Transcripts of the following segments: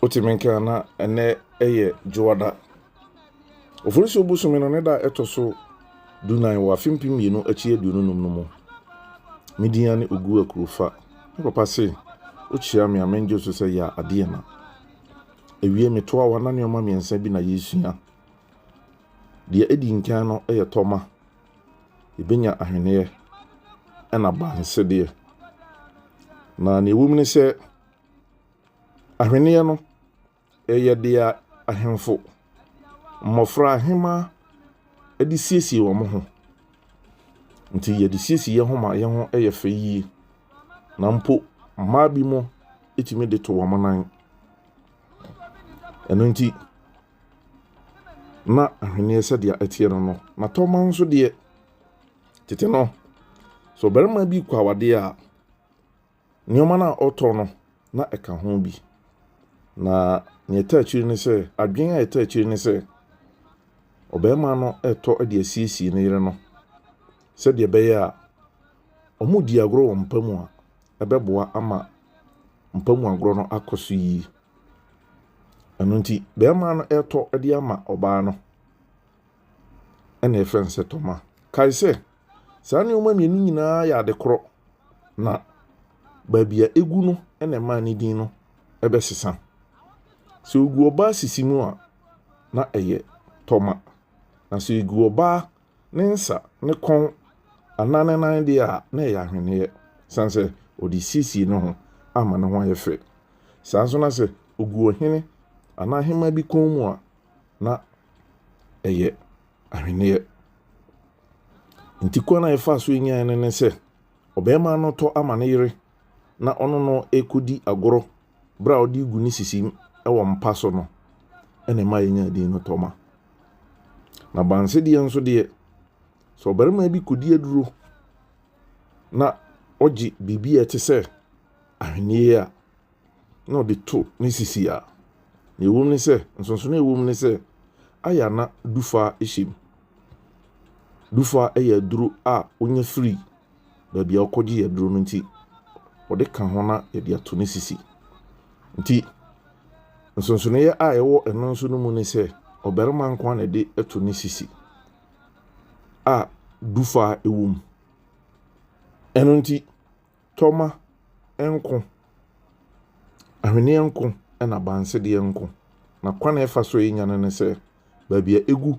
Wotumi nka na ɛnɛ yɛ Dwoada. Oforisuo bosome no ne da a ɛtɔ so dunan wɔ afe mpem mmienu akyi aduonu num no mu. Me din ane Ogu Akurofa. Me papa se wokyia me a mengye wo so sɛ yɛ a adeɛ na. Ewie metoa wa na nneɛma mmiɛnsa bi na yɛresua. Deɛ edi nkan no yɛ tɔma. Yɛbɛnya ahweneɛ ɛna bansedeɛ. Na nea ɛwom ne sɛ Ahweneɛ no, ɛyɛ deɛ ahemfo, mmɔfra, ahemaa de siesie wɔn ho. Nti yɛde siesie yɛn ho ma yɛn ho yɛ fɛ yie. Na mpo mmaa bi mo tumi de to wɔn nan. Ɛno nti, na ahweneɛ sɛdeɛ ɛteɛ no no. Na tɔma nso deɛ, tete no, sɛ ɔbarima bi kɔ awadeɛ a, Nneɛma no a ɔtɔ no, na ɛka ho bi. Na nea ɛtaa akyiri ne sɛ, adwene a ɛtaa akyiri ne sɛ, ɔbarima no retɔ de asiesie ne yere no sɛdeɛ ɛbɛyɛ a wɔredi agorɔ wɔ mpa mu a, ɛbɛboa ama mpa mu agorɔ no akɔ so yie. Ɛno nti, barima no retɔ de ama ɔbaa no, ɛna ɛfrɛ no sɛ tɔma. Kae sɛ, Saa nneɛma mmienu nyinaa yɛ ade korɔ, na baabi a egu no na ɛma ne din no bɛsesa. Sɛ ogu ɔbaa sisi mu a, na ɛyɛ tɔma, na sɛ egu ɔbaa ne nsa, ne kɔn anaa ne nan deɛ a, na ɛyɛ ahweneɛ, san sɛ ɔde siesie ne ho ama ne ho ayɛ fɛ. Saa nso na sɛ ogu ɔhene anaa ahemmaa bi kɔn mu a, na ɛyɛ. ahweneɛ. Nti kwan a yɛfaa so nyaeɛ no ne sɛ, ɔbarima no tɔ ama ne yere na ɔne no kɔdi agorɔ berɛ a ɔde gu ne sisi wɔ mpa so no, ɛna ɛma yɛnya din no Tɔma. Na bansedeɛ nso deɛ, sɛ ɔbarima bi kɔdi aduro na ɔgye biribi a ɛte sɛ ahweneɛ a, na ɔde to ne sisi a, nea ɛwom ne sɛ, nsonsonoe a ɛwom ne sɛ, ayɛ a na dufa hyɛ mu. Dufa yɛ aduro a wonya firi baabi a wokɔgye aduro no nti, wɔde ka ho na yɛde ato ne sisi. Nti, nsonsonoeɛ a ɛwɔ ɛno nso no mu ne sɛ, ɔbarima nko na ɛde to ne sisi a dufa wom. Ɛno nti, Tɔma nko, ahweneɛ nko na abansedeɛ nko. Na kwan a ɛfa so a ɛnya no ne sɛ baabi a ɛgu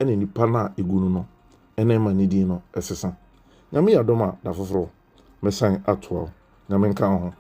ne nipa no a ɛgu no no na ɛma ne din no ɛsesa. Nyame yɛ adom a da foforɔ mɛsan atoa wo. Nyame nka wo ho.